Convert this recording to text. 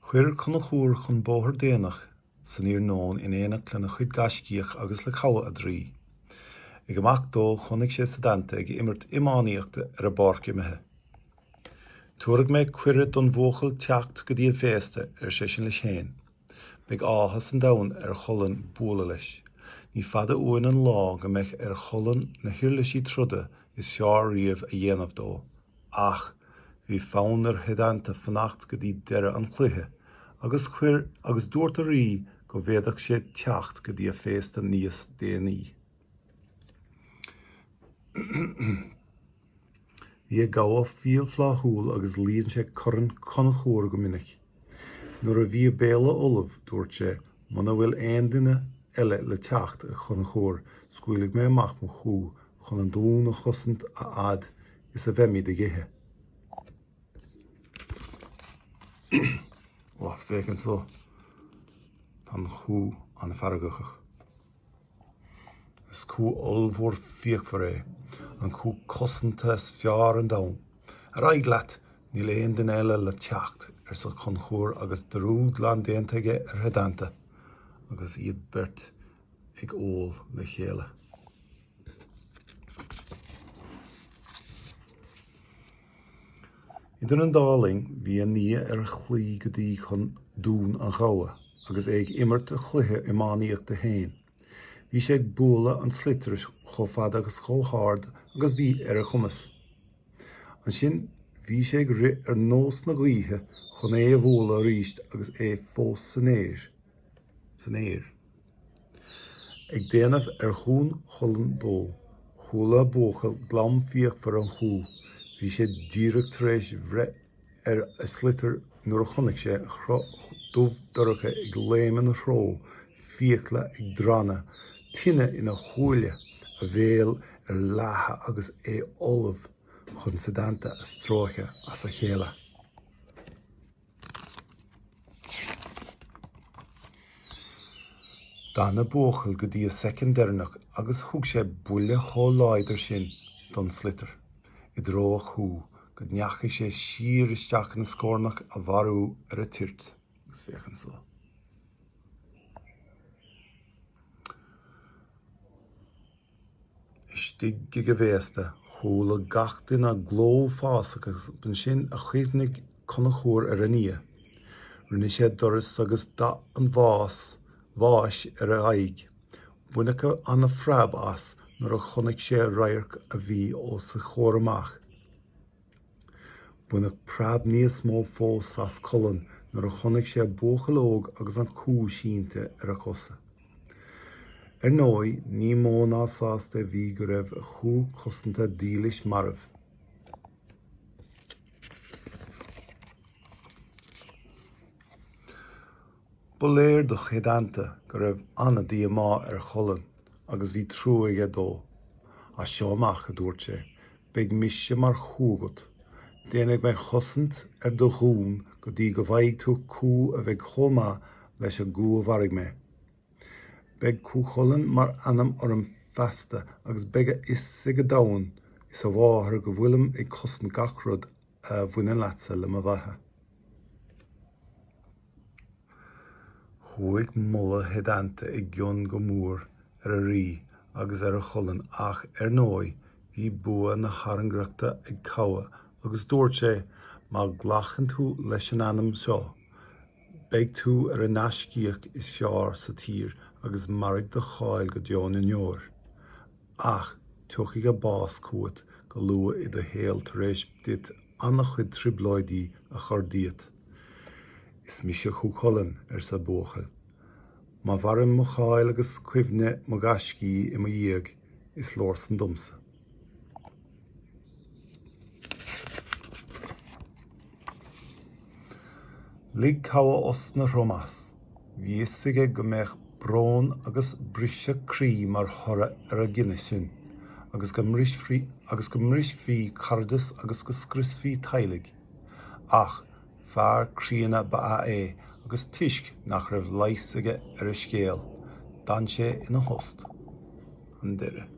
Chuir Conchúr chun bóthair déanach san iarnóin in éineacht lena chuid gaiscíoch agus le Cathbhadh a draoi. Ag imeacht dó chonaic sé Setanta ag imirt iománaíochta ar an bpáirc imeartha. Tabharfaidh mé cuireadh don bhuachaill teacht go dtí an féasta, ar seisean leis féin. Beidh áthas an domhain ar Chulann bualadh leis. Ní fada uainn an lá go mbeidh ar Chulann na huirlisí troda is fearr riamh a dhéanamh dó. Ach bhí fonn ar Shetanta fanacht go dtí deireadh an chluiche agus chuir agus dúirt an rí go bhféadfadh sé teacht go dtí an féasta níos déanaí. Bhí an gabha fial fláithiúil agus líon sé corn Chonchúir go minic. Nuair a bhí an béile ullamh, dúirt sé, Muna bhfuil aon duine eile le teacht, a Chonchúir, scaoilfidh mé amach mo chú chun an dún a chosaint a fhad is a bheimid ag ithe. Ó, féach anso, tá an chú an-fheargachach. Is cú ollmhór fíochmhar é, an chú cosanta is fearr an domhan. Ar aghaidh leat! Níl aon duine eile le teacht, arsa Conchúr agus dearúd glan déanta aige ar Shetanta agus iad beirt ag ól le chéile. Idir an dá linn, bhí a nia ar a shlí go dtí chun Dún an Ghabha agus é ag imirt a chluiche iománaíochta féin. Bhí sé ag bualadh an tsliotair chomh fada agus chomh hard agus bhí ar a chumas. Ansin bhí sé ag rith ar nós na gaoithe chun é a bhualadh arís agus é fós san aer. Ag déanamh ar Dhún Chulainn dó, chuala an buachaill glam fíochmhar an chú. Bhí sé díreach tar éis bhreith ar a shliotar nuair a chonaic sé cruth dubh dorcha ag léim ina threo, fiacla ag drannadh, tine ina shúile, a bhéal ar leathadh agus é ullamh chun Setanta a stróiceadh as a chéile. D'fhan an buachaill go dtí an soicind deireanach agus thug sé buille chomh láidir sin don sliotar i dtreo an chú go ndeachaigh sé siar isteach ina scórnach á mharú ar an toirt. Agus féach anso. istigh ag an bhféasta. Chuala gach duine gleo uafásach agus b'ansin a chuimhnigh Conchúr ar a nia. Rinne sé doras agus dath an bhás, bháis, ar a aghaidh. Baineadh an-phreab as nuair a chonaic sé radharc a bhí os a chomhair amach. Baineadh preab níos mó fós as Culann nuair a chonaic sé buachaill óg agus an cú sínte ar a chosa. Ar ndóigh, ní mó ná sásta a bhí go raibh a chú cosanta dílis marbh. Ba léir do Shéadanta go raibh an-díomá ar Chulann agus bhí trua aige dó. As seo amach, a dúirt sé, beidh mise mar chú agat. Déanfaidh mé cosaint ar do dhún go dtí go bhfaighidh tú cú a bheidh chomh maith leis an gcú a mharaigh mé. Beidh Cú Chulainn mar ainm orm feasta agus beidh a fhios ag an domhan is a mháthair go bhfuilim ag cosaint gach rud a bhaineann leatsa le mo bheatha. Chuaigh moladh Shéadanta i gcion go mór ar an rí agus ar Chulann ach, ar ndóigh, bhí bua na tairngreachta ag Cabha agus dúirt sé, Má ghlacann tú leis an ainm seo, beidh tú ar an ngaiscíoch is fearr sa tír agus mairfidh do cháil go deo na ndeor. Ach tiocfaidh an bás chugat go luath i do shaol tar éis duit ana-chuid trioblóidí a chur díot. Is mise Cú Chulainn, arsa an buachaill. Má mhaireann mo cháil agus cuimhne mo ghaiscí i mo dhiaidh, is leor san domsa. Lig Cabha osna throm as. Bhí 'fhios aige go mbeadh brón agus briseadh croí mar thoradh ar an gcinneadh sin, agus go mbrisfí caradas agus go scriosfaí teaghlaigh. Ach Fear críonna ba ea é agus toisc nach raibh leigheas aige ar an scéal, d'fhan sé ina thost. An deireadh.